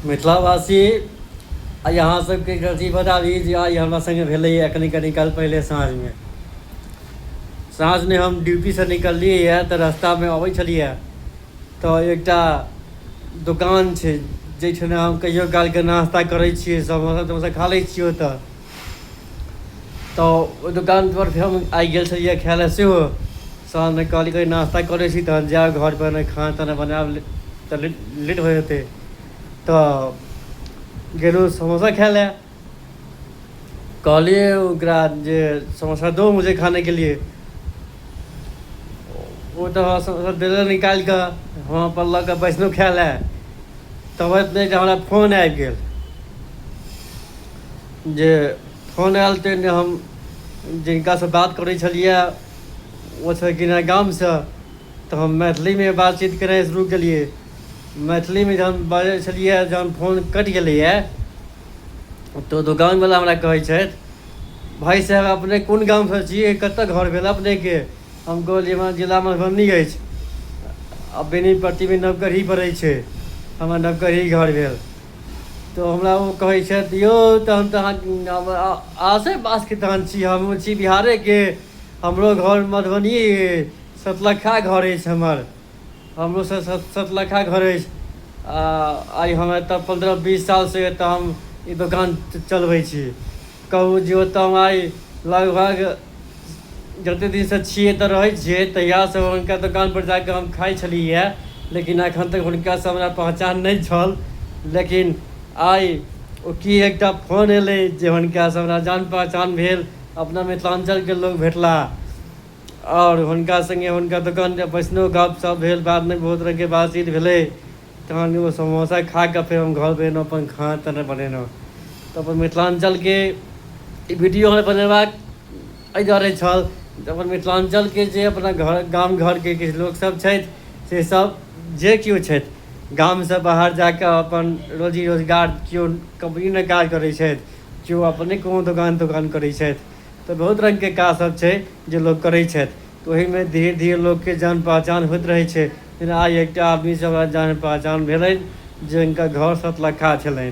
मिथिलावासी आइ अहाँ सबके अथी बताबी जे आइ हमरा सङ्गे भेलैए कनि कनि काल पहिले साँझमे साँझमे हम ड्यूटीसँ निकललियै यए तऽ रस्तामे अबै छलियै तऽ एकटा दोकान छै जाहिठाम हम कहियो कालके नास्ता करै छियै समोसा तमोसा खा लै छियै ओतऽ तऽ ओहि दोकानपर हम आइ गेल छलियै खाय लए सेहो साँझ मे कहली कनी नास्ता कऽ लै छी तहन जायब घर पर ने खाना ताना बनायब ले तऽ ले लेट भऽ जेतै तऽ गेलहुँ समोसा खाय लए कहलियै ओकरा जे समोसा दो मुझे खाने के लिए ओ तऽ हमरा समोसा देले निकालि कऽ हम अपन लऽ कऽ बैसलहुँ खाय लए तब एतने जे हमरा फोन आबि गेल जे फोन आयल तऽ हम जिनकासँ बात करै छलियै ओतऽ गेना गामसँ तऽ हम मैथिलीमे बातचीत करनाइ शुरू केलिए मैथिलीमे जहन बाजै छलिए जहन फोन कटि गेलैए तऽ दोकानवला हमरा कहै छथि भाइ साहेब अपने कोन गामसँ छिए कतऽ घर भेल अपनेके हम कहलिए हमरा जिला मधुबनी अछि आओर बेनीपट्टीमे नवगढ़ी पड़ै छै हमर नवगढ़ी घर भेल तऽ हमरा ओ कहै छथि यौ तहन तऽ अहाँ आसे पासके तहन छी हम छी बिहारेके हमरो घर मधुबनी अछि सतलखा घर अछि हमर हमरो सत सतलखा घर अछि आ आइ हम एतऽ पन्द्रह बीस साल से एतऽ हम ई दोकान चलबै छी कहू जे ओतऽ हम आइ लगभग जते दिनसँ छियै तऽ रहै छियै तहियासँ हुनका दोकानपर जा कऽ हम खाइ छलियै लेकिन एखन तक हुनकासँ हमरा पहचान नहि छल लेकिन आइ ओ की एकटा फोन एलै जे हुनकासँ हमरा जान पहचान भेल अपना मिथिलाञ्चलके लोक भेटलाह आओर हुनका सङ्गे हुनका दोकानपर बैसलहुँ गपशप भेल बादमे बहुत रङ्गके बातचीत भेलै तहन ओ समोसा खा कऽ फेर हम घरपर एलहुँ अपन खाना ताना बनेलहुँ तऽ अपन मिथिलाञ्चलके ई वीडियो हमरा बनेबाक एहि दुआरे छल जे अपन मिथिलाञ्चलके जे अपना घर गाम घरके किछु लोकसभ छथि से सभ जे कियो छथि गामसँ बाहर जा कऽ अपन रोजी रोजगार कियो कम्पनीमे काज करै छथि कियो अपने कोनो दोकान तोकान करै छथि तऽ बहुत रङ्गके काजसभ छै जे लोक करै छथि तऽ ओहिमे धीरे धीरे लोकके जान पहचान होइत रहै छै लेकिन आइ एकटा आदमीसँ हमरा जान पहचान भेलनि जे हिनकर घर सतलखा छलनि